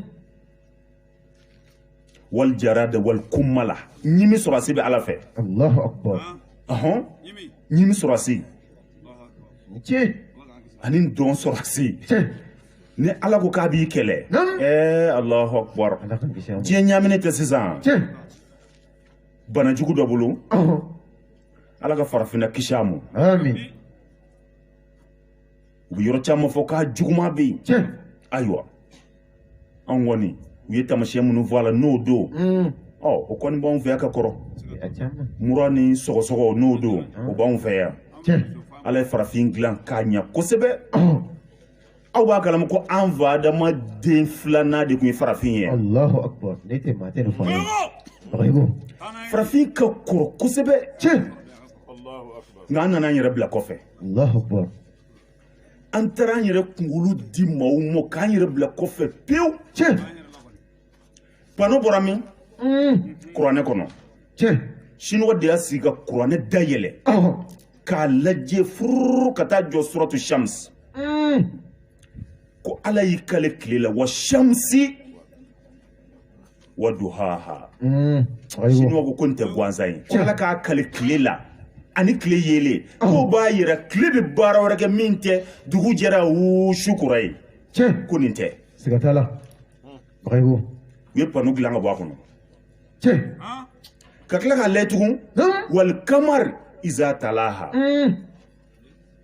wal jarada wal kummala ɲimi sɔrɔdasi bɛ ala fɛ ɲimi sɔrɔdasi ani ntɔn sɔrɔdasi ni ala ko k'a b'i kɛlɛ ɛɛ alahu akubar diɲɛ ɲaaminen tɛ sisan bana jugu dɔ bolo ala ka farafinna kisi a ma u bɛ yɔrɔ caman fɔ k'a juguman bɛ yen ayiwa an kɔni u ye taamasiyɛn minnu fɔ a la n'o don mm. ɔ o kɔni b'anw fɛ yan ka kɔrɔ mura ni sɔgɔsɔgɔ n'o don o b'anw fɛ yan ala ye farafin dilan k'a ɲɛ kosɛbɛ aw b'a kalama ko an fa adama den filanan de tun ye farafin ye alahu akbar n'e tɛ maa tɛ nin fɔ an ye bagayoko farafin ka kɔrɔ kosɛbɛ tiɲɛ nka an nana an yɛrɛ bila kɔfɛ alahu akbar an taara an yɛrɛ kunkolo di maaw ma k'an yɛrɛ bila kɔfɛ pewu tiɲɛ panneau bɔra min kuranɛ kɔnɔ siniwa de y'a sigi ka kuranɛ dayɛlɛ k'a lajɛ fururu ka taa jɔ suratu shamsi ko ala y'i kale tile la wa shamsi wa duhaha siniwa ko nin tɛ gansan ye ko ala k'a kale tile la ani tile yeelen k'o b'a yira tile bɛ baara wɛrɛ kɛ min tɛ dugu jɛra su kora ye ko nin tɛ siga t'a la u ye panneau dilan ka bɔ a kɔnɔ ka tila k'a lajɛ tugun wal kamari iza talaha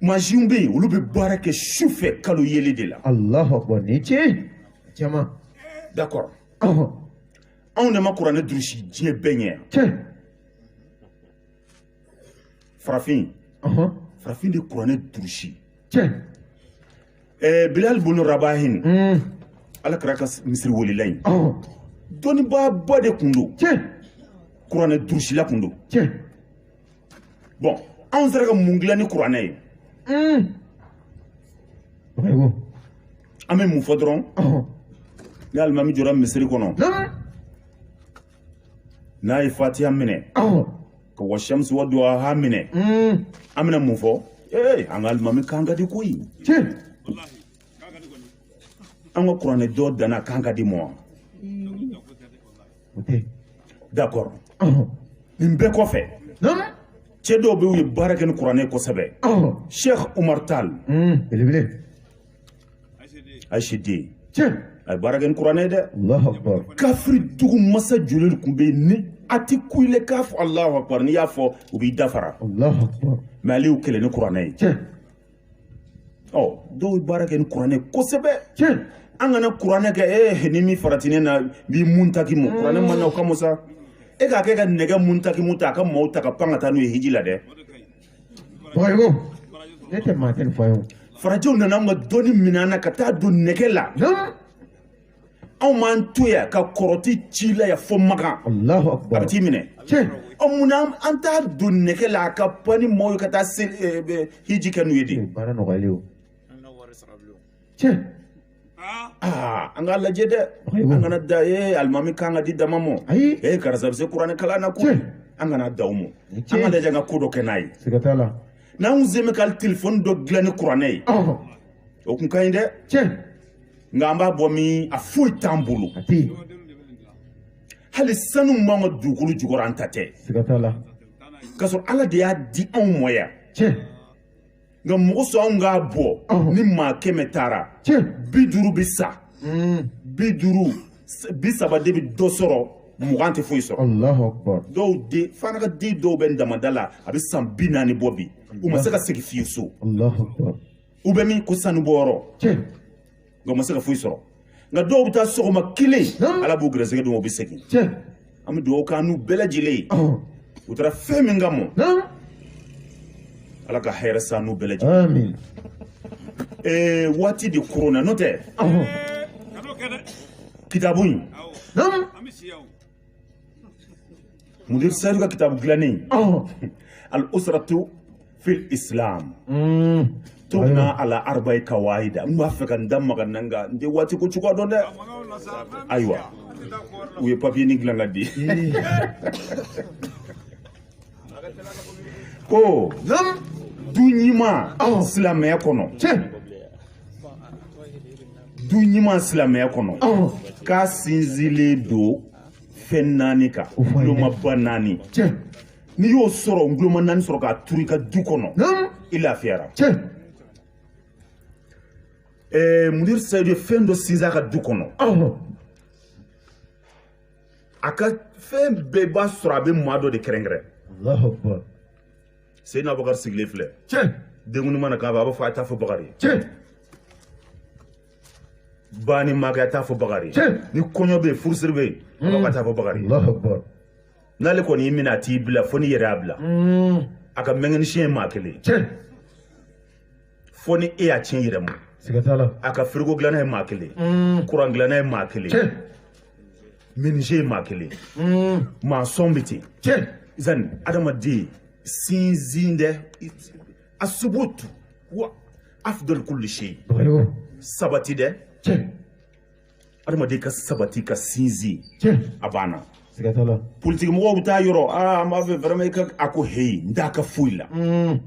mansinw bɛ yen olu bɛ baara kɛ su fɛ kalo yeelen de la alahu akbar ni tiɲɛ jama d'accord anw de ma kuranɛ durusi diɲɛ bɛɛ ɲɛ yan farafin farafin de kuranɛ durusi Eh, bilal bunu rabahin hmm. ala kira ka misiri welela in oh. dɔnnibaaba de tun don kuranɛ durusila tun don bon anw sera ka mun dilan ni kuranɛ ye hmm. an bɛ mun fɔ dɔrɔn oh. ni alimami jɔra misiri kɔnɔ n'a ye fatiya minɛ ka wa shamsi wa duhaha minɛ an bɛna mun fɔ ee an ka alimami kan ka di koyi an ka kuranɛ dɔn danna kan ka di mɔ wa d'accord nin bɛɛ kɔfɛ cɛ dɔw bɛ yen u ye baara kɛ ni kuranɛ kosɛbɛ sheikh umar tal belebele ayisi den a ye baara kɛ ni kuranɛ ye dɛ kafiri dugu masa joli tun bɛ yen ni a ti ku ile k'a fɔ alahu akubar n'i y'a fɔ u b'i dafara mais ale y'u kɛlɛ ni kuranɛ ye ɔ dɔw ye baara kɛ ni kuranɛ kosɛbɛ an kana kuranɛ kɛ ee ni min farati ne na b'i muntakimu kuranɛ ma na o kama sa e k'a kɛ ka nɛgɛ muntakimu ta a ka maaw ta ka pan ka taa n'u ye hiji la dɛ ne tɛ maa tɛ fa ye farajɛw nana anw ka dɔnni minɛ an na ka taa don nɛgɛ la anw m'an to yan ka kɔrɔti ci la yan fo makan a bɛ t'i minɛ ɔ mun na an t'a don nɛgɛ la a ka pan ni maaw ye ka taa hiji kɛ n'u ye de aa an k'a lajɛ dɛ an kana dan ee alimami kan ka di dama mɔ ayi ee karisa bɛ se kuranɛ kalan na ko Tiɲɛ. an kana dan o mɔ an k'a lajɛ an ka ko dɔ kɛ n'a ye siga t'a la n'an kun se bɛ ka telefɔni dɔ dilan ni kuranɛ ye ɔhɔ o kun ka ɲi dɛ tiɲɛ nka an b'a bɔ min a foyi t'an bolo a tɛ yen hali sanu min b'an ka dugukolo jukɔrɔ an ta tɛ siga t'a la k'a sɔrɔ ala de y'a di anw mɔ yan tiɲɛ nka mɔgɔ sɔn anw k'a bɔ ni maa kɛmɛ taara bi duuru bɛ sa bi duuru bi saba de bɛ dɔ sɔrɔ mugan tɛ foyi sɔrɔ dɔw den fana ka den dɔw bɛ damanda la a bɛ san bi naani bɔ bi u ma se ka segin fiyewu so u bɛ min ko sanubɔyɔrɔ nka u ma se ka foyi sɔrɔ nka dɔw bɛ taa sɔgɔma kelen ala b'u garisɛgɛ don u bɛ segin an bɛ dugawu k'an n'u bɛɛ lajɛlen ye u taara fɛn min kama ala ka hɛrɛ san n'u bɛɛ lajɛlen ee waati de koronna n'o tɛ kitabu in mudir seyidu ka kitabu dilannen al usratu fil islam mm. tubna ala arba'i kawaida n b'a fɛ ka n da mag'a na nka n tɛ waati ko cogoya dɔn dɛ ayiwa u ye papiye nin dilan k'a di ko du ɲuman silamɛya kɔnɔ du ɲuman silamɛya kɔnɔ k'a sinsinlen don fɛn naani kan ngulomaba naani n'i y'o sɔrɔ nguloma naani sɔrɔ k'a turu i ka du kɔnɔ i lafiyara ɛɛ mudir sayidu ye fɛn dɔ sinsin a ka du kɔnɔ a ka fɛn bɛɛ b'a sɔrɔ a bɛ maa dɔ de kɛrɛnkɛrɛn seyina bakari sigilen filɛ tiɲɛ denkundi mana k'a fɛ a b'a fɔ a t'a fɔ bakari ye tiɲɛ banni mana kɛ a t'a fɔ bakari ye tiɲɛ ni kɔɲɔ bɛ yen furusiri bɛ yen a b'a t'a fɔ bakari ye n'ale kɔni y'i minɛ a t'i bila fo n'i yɛrɛ y'a bila a ka mekanisiyɛn ye maa kelen ye fo ni e y'a tiɲɛ yɛrɛ ma a ka firigo dilanna ye maa kelen kuran dilanna ye maa kelen minize ye maa kelen mm. maa sɔn bɛ ten tiɲɛ zani adamaden sinsin dɛ asubutu wa afdal kulli shay sabati dɛ tiɲɛ adamaden ka sabati ka sinsin tiɲɛ a banna siga t'a la politiki mɔgɔw bɛ taa yɔrɔ aa an b'a fɛ vraiment i ka a ko heyi n t'a ka foyi la mm.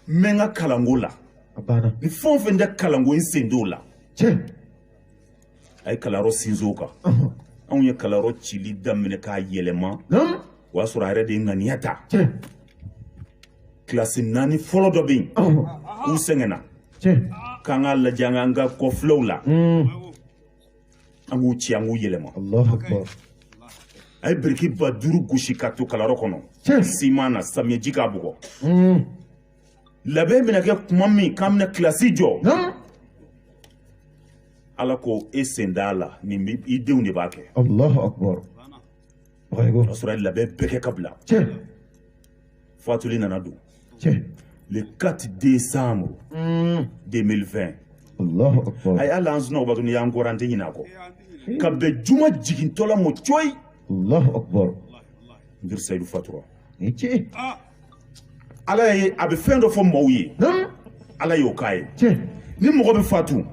n bɛ n ka kalanko la a banna ni fɛn o fɛn tɛ kalanko n sen t'o la tiɲɛ a ye kalanyɔrɔ sinsin o kan anw ye kalanyɔrɔ cili daminɛ k'a yɛlɛma o y'a sɔrɔ a yɛrɛ de ye ŋaniya ta kilasi naani fɔlɔ dɔ bɛ yen u sɛgɛnna k'an k'a lajɛ an k'an ka kɔfilɛw la an k'u ci an k'u yɛlɛma a ye biriki ba duuru gosi k'a to kalanyɔrɔ kɔnɔ siman na samiyɛji k'a bugɔ labɛn bɛna kɛ kuma min k'an bɛna kilasi jɔ ala ko e sen t'a la nin i denw de b'a kɛ alahu akubaru ka sɔrɔ a ye labɛn bɛɛ kɛ ka bila fatuli nana don le 4 décembre 2020 a ye hali an sunɔgɔbaatɔ n'i y'an kɔrɔ an tɛ ɲinɛ a kɔ ka bɛn juma jigintɔla mɔ coyi Allahu akbar. Mudir Seydou fatura. Ni ce. ala ye a bɛ fɛn dɔ fɔ maaw ye ala y'o k'a ye ni mɔgɔ bɛ fatu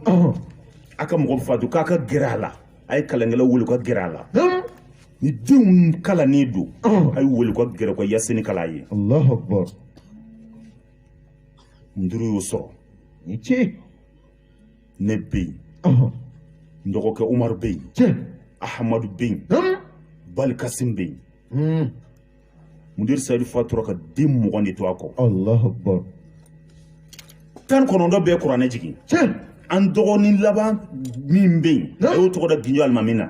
a ka mɔgɔ bɛ fatu k'a ka gɛrɛ a la a ye kalankɛlaw wele ka gɛrɛ a la ni denw kalannen don a ye wele ka gɛrɛ ka yasini kalan a ye muduru y'o sɔrɔ ni ce ne bɛ yen n dɔgɔkɛ umaru bɛ yen ahamadu bɛ yen balikasin bɛ yen mudiri sayidu fatura ka den mugan de to a kɔ alahu akbar tan kɔnɔntɔn bɛɛ kuranɛ jigin tiɲɛ an dɔgɔnin laban min bɛ yen a y'o tɔgɔ da ginjo alimami na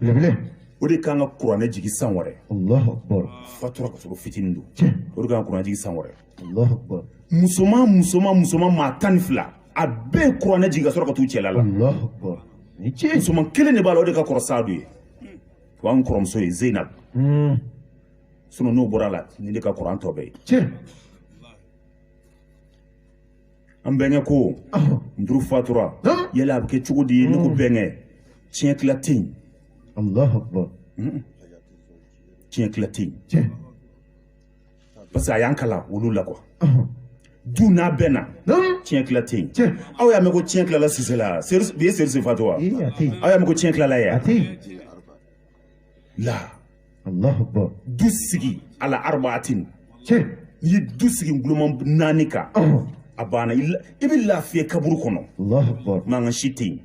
belebele o de kan ka kuranɛ jigin san wɛrɛ alahu akbar fatura ka sɔrɔ fitinin don tiɲɛ o de kan ka kuranɛ jigin san wɛrɛ alahu akbar musoman musoman musoman maa tan ni fila a bɛɛ ye kuranɛ jigin ka sɔrɔ ka t'u cɛla la alahu akbar ni tiɲɛ musoman kelen de b'a la o de ka kɔrɔ saadu ye o y'an kɔrɔmuso ye zeinab hmm. sinɔn n'o bɔra a la nin de ka kɔrɔ an tɔ bɛɛ ye an bɛnkɛ ko muduru fatura yala a bɛ kɛ cogo di ne ko hmm. bɛnkɛ tiɲɛ tila tɛ yen hmm. tiɲɛ tila tɛ yen parce que a y'an kalan olu la ko du n'a bɛɛ na tiɲɛ tila tɛ yen aw y'a mɛn ko tiɲɛ tilala sisela bi ye serisi fatu wa aw y'a mɛn ko tiɲɛ tilala ya la du sigi ala arbaatin n'i ye du sigi nguloma naani kan a banna i bɛ lafiya kaburu kɔnɔ mankan si tɛ yen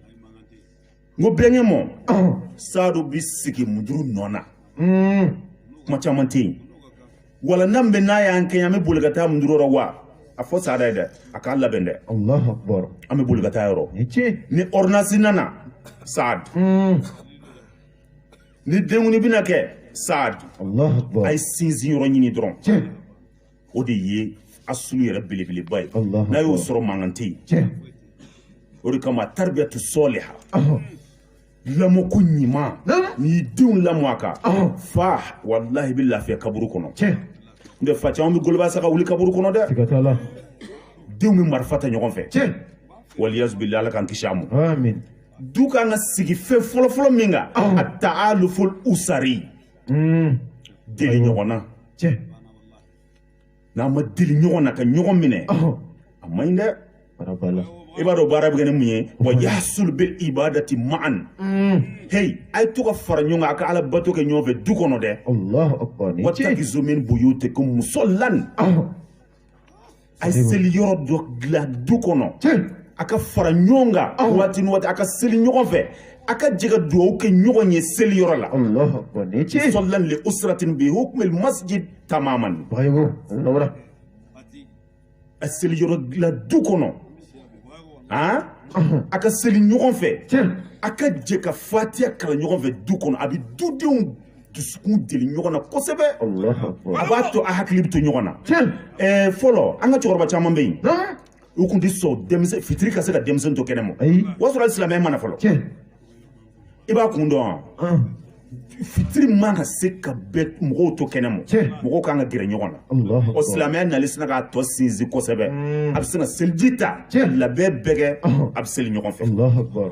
n ko bɛnkɛ mɔ saadu bɛ sigi muduru nɔ na kuma caman tɛ yen wala n'an bɛ n'a y'an kɛɲɛ an bɛ boli ka taa muduru yɔrɔ wa a fɔ saadu ye dɛ a k'a labɛn dɛ an bɛ boli ka taa yɔrɔ ni ordonnance nana saadu ni denkundi bɛna kɛ saadu a ye sinsin yɔrɔ ɲini dɔrɔn o de ye asulu yɛrɛ belebeleba ye n'a y'o sɔrɔ mankan tɛ yen o de kama taribiyatu sɔliha lamɔko ɲuman n'i y'i denw lamɔ a kan fa walahi i bɛ lafiya kaburu kɔnɔ n tɛ fa caman bɛ goloba sa ka wuli kaburu kɔnɔ dɛ denw bɛ marifa ta ɲɔgɔn fɛ waliyazubilahi ala k'an kisi a ma du kan ka sigi fɛn fɔlɔfɔlɔ min kan ataaluful usari Mm. deli ɲɔgɔn na Tiɲɛ. n'a ma deli ɲɔgɔn na ka ɲɔgɔn minɛ Ɔhɔn. a man ɲi dɛ Bara b'a la. i b'a dɔn baara bɛ kɛ ni mun ye wa yasul bil ibadati ma'an Mm. hey a ye to ka fara ɲɔgɔn kan a ka ala bato kɛ ɲɔgɔn fɛ du kɔnɔ dɛ Allahu akbar. Ni ce. watakizu min buyutikum musallan Ɔhɔn. a ye seli yɔrɔ dɔ dilan du kɔnɔ a ka fara ɲɔgɔn kan waati ni waati a ka seli ɲɔgɔn fɛ a ka jɛ ka dugawu kɛ ɲɔgɔn ye seli yɔrɔ la musallan li usratin bi hukmil masjid tamaman a seli yɔrɔ dilan du kɔnɔ a ka seli ɲɔgɔn fɛ a ka jɛ ka fatiya kalan ɲɔgɔn fɛ du kɔnɔ a bɛ dudenw dusukun deli ɲɔgɔn na kosɛbɛ a b'a to a hakili bɛ to ɲɔgɔn na eh, fɔlɔ an ka cɛkɔrɔba caman bɛ yen u tun tɛ sɔn denmisɛn fitiri ka se ka denmisɛn to kɛnɛ ma o y'a sɔrɔ silamɛya ma na fɔlɔ i b'a kun dɔn wa fitiri man ka se ka bɛɛ mɔgɔw to kɛnɛ ma mɔgɔw kan ka gɛrɛ ɲɔgɔn na o silamɛya nali sinna k'a tɔ sinsin kosɛbɛ mm. a bɛ sin ka seliji ta labɛn bɛɛ kɛ a bɛ seli ɲɔgɔn fɛ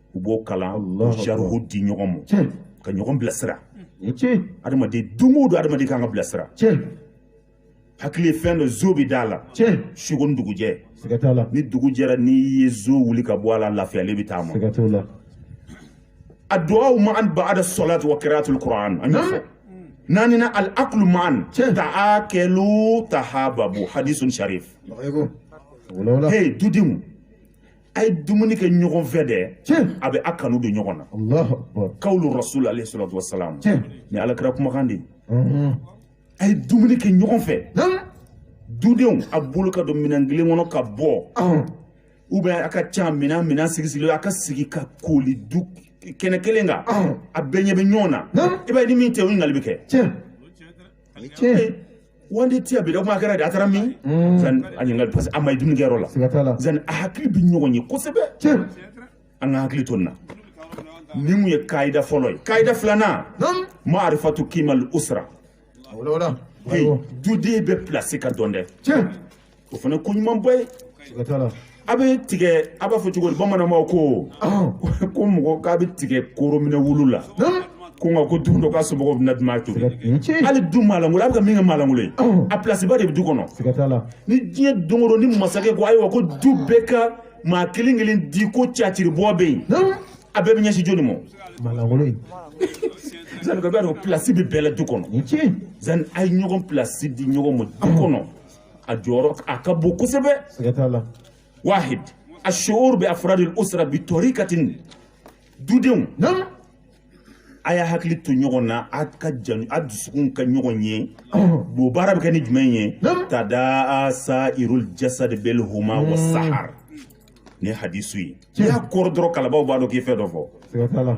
u b'o kalan u saruhu di ɲɔgɔn ma ka ɲɔgɔn bilasira adamaden don o don adamaden kan ka bilasira hakili ye fɛn dɔ zɔn bɛ d'a la suko ni dugujɛ ni dugu jɛra n'i ye zɔn wuli ka bɔ a la lafiyalen bɛ taama adu'awu ma'an ba'da salati wa kira'atul kur'an an y'o fɔ naaninan al akulu ma'an ta'akulu tahababu hadisun sharif hey dudenw a ye dumuni kɛ ɲɔgɔn fɛ dɛ a bɛ a kanu don ɲɔgɔn na kawulu rasul alayhi salatu wasalam nin ala kira kumakan de a ye dumuni kɛ ɲɔgɔn fɛ dudenw a bolo ka don minɛn kelen kɔnɔ ka bɔ ou bien a ka ca minɛn minɛn sigi sigilen a ka sigi ka kooli du kɛnɛ kelen kan a bɛɛ ɲɛ bɛ ɲɔgɔn na i b'a ye ni min tɛ o ɲininkali bɛ kɛ wanda tɛ yan bi da kuma kɛra di a taara min mm. zan a ɲininkali parce que a ma ye dumunikɛyɔrɔ la zan a hakili bɛ ɲɔgɔn ye kosɛbɛ an ka hakili to nin na ni mun ye kayida fɔlɔ ye kayida filanan ma'arifatu kimal usra duden bɛɛ pilasi ka dɔn dɛ o fana ko ɲuman bɔ ye a bɛ tigɛ a b'a fɔ cogo di bamananw ko ko mɔgɔ k'a bɛ tigɛ korominɛ wulu la ko nka ko don dɔ ka somɔgɔw bɛna dun to hali du maalankolon a bɛ ka min kɛ maalankolon ye a pilasiba de bɛ du kɔnɔ ni diɲɛ don o don ni masakɛ ko ayiwa ko du bɛɛ ka maa kelen kelen di ko caciribɔ bɛ yen a bɛɛ bɛ ɲɛsin jɔni ma zanni ka b'a dɔn pilasi bɛ bɛɛ la du kɔnɔ zanni a ye ɲɔgɔn pilasi di ɲɔgɔn ma du kɔnɔ a jɔyɔrɔ a ka bon kosɛbɛ siga t'a la wahid ashuur bi afradil usra bi torikatin dudenw naamu a y'a hakili to ɲɔgɔn na a ka jan a dusukun ka ɲɔgɔn ye bon baara bɛ kɛ ni jumɛn ye Naamu. tadaa sairul jasad bil humma wa sahar ni hadisu ye n'i y'a kɔrɔ dɔrɔn kalanbaw b'a dɔn k'i fɛn dɔ fɔ siga t'a la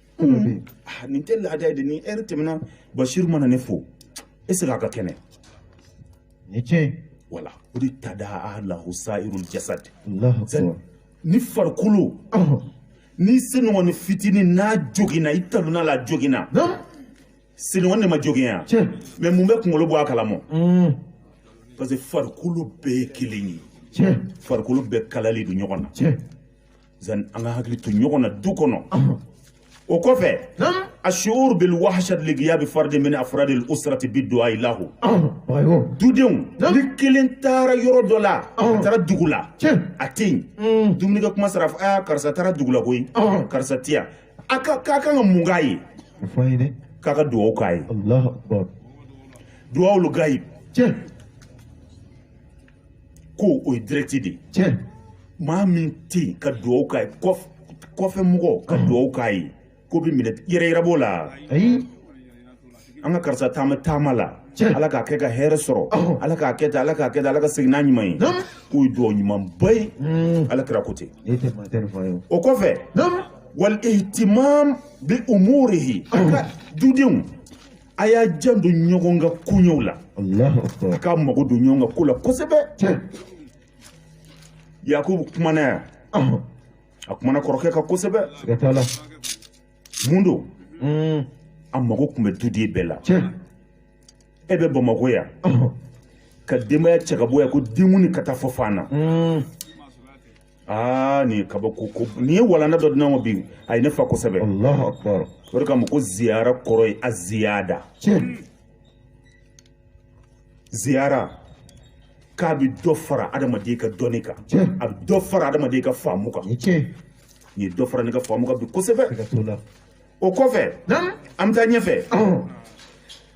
Hmm. Ah, nin tɛ laada ye dɛ ni ɛri tɛmɛna basiru mana ne fo e segin a ka kɛnɛ ni tiɲɛ wala o de tadaa lahu sairul jasad ni farikolo ni senkɔni fitini n'a joginna i talonna a la a joginna senkɔni ma jogin yan mais mun bɛ kunkolo bɔ a kalama hmm. parce que farikolo bɛɛ ye kelen ye farikolo bɛɛ kalalen don ɲɔgɔn na zan an ka hakili to ɲɔgɔn na du kɔnɔ o kɔfɛ ashuur bil wahshat li ghiyab fard min afrad al usrati bi du'a lahu dudenw ni kelen taara yɔrɔ dɔ la a taara dugu la a tɛ yen mm. dumuni kɛ kuma sera a karisa taara dugu la koyi karisa tɛ yan a ka kan ka mun k'a ye k'a ka dugawu k'a ye dugawu lil ghayib ko o ye direct de ye tiɲɛ maa min tɛ yen ka dugawu k'a ye kɔfɛ mɔgɔ ka dugawu k'a ye k'o bɛ minɛ yɛrɛyira b'o la ayi an ka karisa taama taama la ala k'a kɛ ka hɛrɛ sɔrɔ ala k'a kɛ tan ala k'a kɛ tan ala ka segin n'a ɲuman ye k'o ye dugawu ɲumanba ye ala kira ko ten o kɔfɛ wal ihtimam bi umurihi an ka dudenw a y'a janto ɲɔgɔn ka koɲɛw la k'a mago don ɲɔgɔn ka ko la kosɛbɛ yakubu kumana yan a kumana kɔrɔkɛ kan kosɛbɛ mun don hmm. a mago tun bɛ duden bɛɛ la e bɛ bamakɔ yan ka denbaya cɛ ka bɔ yan ko denkundi ka taa fa fan na hmm. aa nin ye kabako ko nin ye walanda dɔ di ne ma bi a ye ne fa kosɛbɛ alahu akbar o de kama ko ziyara kɔrɔ ye a ziyada tiɲɛ ziyara k'a bɛ dɔ fara adamaden ka dɔnni kan Tiɲɛ. a bɛ dɔ fara adamaden ka faamu kan ni tiɲɛ nin ye dɔ fara ne ka faamu kan bi kosɛbɛ siga t'o la o kɔfɛ naamu an bɛ taa ɲɛfɛ ɔhɔn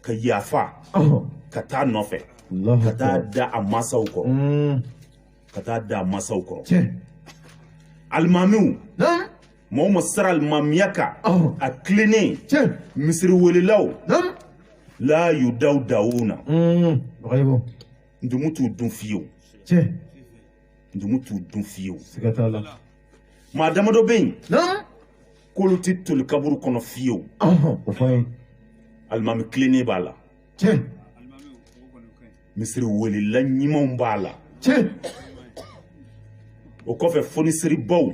ka yafa ka taa nɔfɛ ka taa da a masaw kɔrɔ mm. ka taa da a masaw kɔrɔ alimamiw mɔgɔ min sara alimamiya kan a tilennen misiri welelaw la yudawwaduna mm. ntumu t'u dun fiyew ntumu t'u dun fiyew maa damadɔ bɛ yen k'olu tɛ toli kaburu kɔnɔ fiyewu o fɔ ye alimami tilennen b'a la tiɲɛ misiri welela ɲumanw b'a la tiɲɛ o kɔfɛ fonisiribaw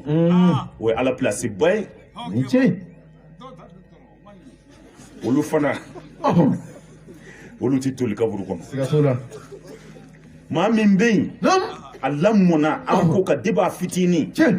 o ye ala pilasiba ye ni tiɲɛ olu fana olu tɛ toli kaburu kɔnɔ siga t'o la maa min bɛ yen a lamɔna ala ko kan de b'a fitinin tiɲɛ